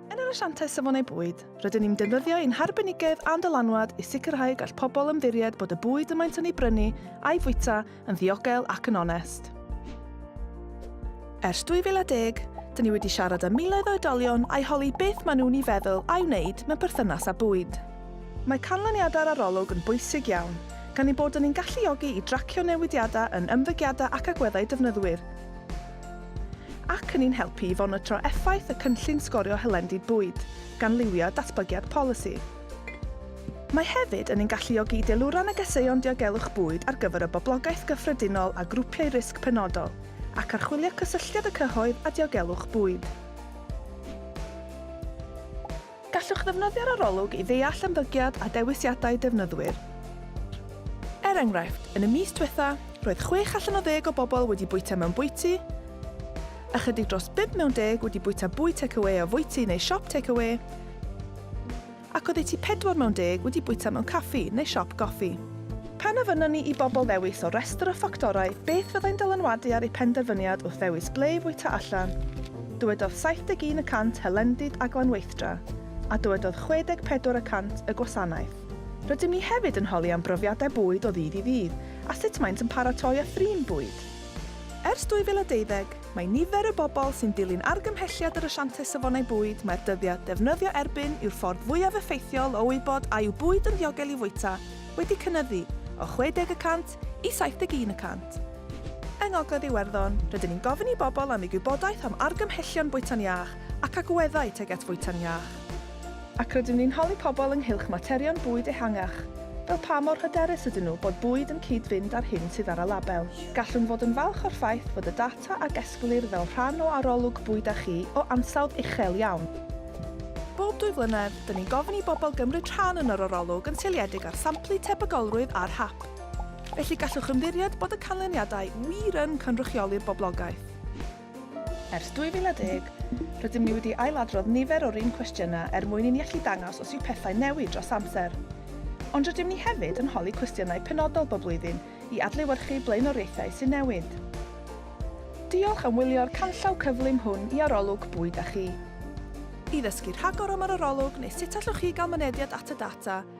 Yn yr asiantaeth safonau bwyd, rydyn ni'n defnyddio ein harbenigedd a'n dylanwad i sicrhau y gall pobl ymddiried bod y bwyd y maent yn ei brynu a'i fwyta yn ddiogel ac yn onest. Ers 2010, dyn ni wedi siarad â miloedd o oedolion a'i holi beth maen nhw'n ei feddwl a'i wneud mewn perthynas â bwyd. Mae canlyniadau'r arolwg yn bwysig iawn, gan ein bod yn ein galluogi i dracio newidiadau yn ymddygiadau ac agweddau defnyddwyr, ac yn ein helpu i fonitro effaith y cynllun sgorio hylendid bwyd, gan liwio datblygiad polisi. Mae hefyd yn ein galluogi i deilwra negeseuon diogelwch bwyd ar gyfer y boblogaeth gyffredinol a grwpiau risg penodol, ac archwilio cysylltiad y cyhoedd a diogelwch bwyd. Gallwch ddefnyddio'r arolwg i ddeall ymddygiad a dewisiadau defnyddwyr. Er enghraifft, yn y mis diwetha', roedd chwech allan o ddeg o bobl wedi bwyta mewn bwyty, ychydig dros bump mewn deg wedi bwyta bwyd tecawê o fwyty neu siop tecawê, ac oddeutu pedwar mewn deg wedi bwyta mewn caffi neu siop goffi. Pan ofynnon ni i bobl ddewis o restr o ffactorau beth fyddai'n dylanwadu ar eu penderfyniad wrth ddewis ble i fwyta allan, Dywedodd 71 y cant hylendid a glanweithdra, a dywedodd 64 y cant y gwasanaeth. Rydym ni hefyd yn holi am brofiadau bwyd o ddydd i ddydd a sut maent yn paratoi a thrin bwyd. Ers 2012, mae nifer y bobl sy'n dilyn argymhelliad yr Asiantaeth Safonau Bwyd mai'r dyddiad defnyddio erbyn yw'r ffordd fwyaf effeithiol o wybod a yw bwyd yn ddiogel i fwyta wedi cynyddu o 60 y cant 27 i 71 y cant. Yng Ngogledd Iwerddon, rydyn ni'n gofyn i bobl am eu gwybodaeth am argymhellion bwyta'n iach ac agweddau tuag at fwyta'n iach. Ac rydyn ni'n holi pobl ynghylch materion bwyd ehangach, fel pa mor hyderus ydyn nhw bod bwyd yn cyd-fynd â'r hyn sydd ar y label. Gallwn fod yn falch o'r ffaith fod y data a gesglir fel rhan o arolwg bwyd â chi o ansawdd uchel iawn. Bob dwy flynedd, 'dyn ni'n gofyn i bobl gymryd rhan yn yr arolwg yn seiliedig ar samplu tebygolrwydd ar hap. Felly gallwch ymddiried bod y canlyniadau wir yn cynrychioli'r boblogaeth. Ers 2010, rydym ni wedi ailadrodd nifer o'r un cwestiynau er mwyn i ni allu dangos os yw pethau'n newid dros amser. Ond rydym ni hefyd yn holi cwestiynau penodol bob blwyddyn i adlewyrchu blaenoriaethau sy'n newid. Diolch am wylio'r canllaw cyflym hwn i Arolwg Bwyd a Chi. I ddysgu rhagor am yr arolwg neu sut allwch chi gael mynediad at y data,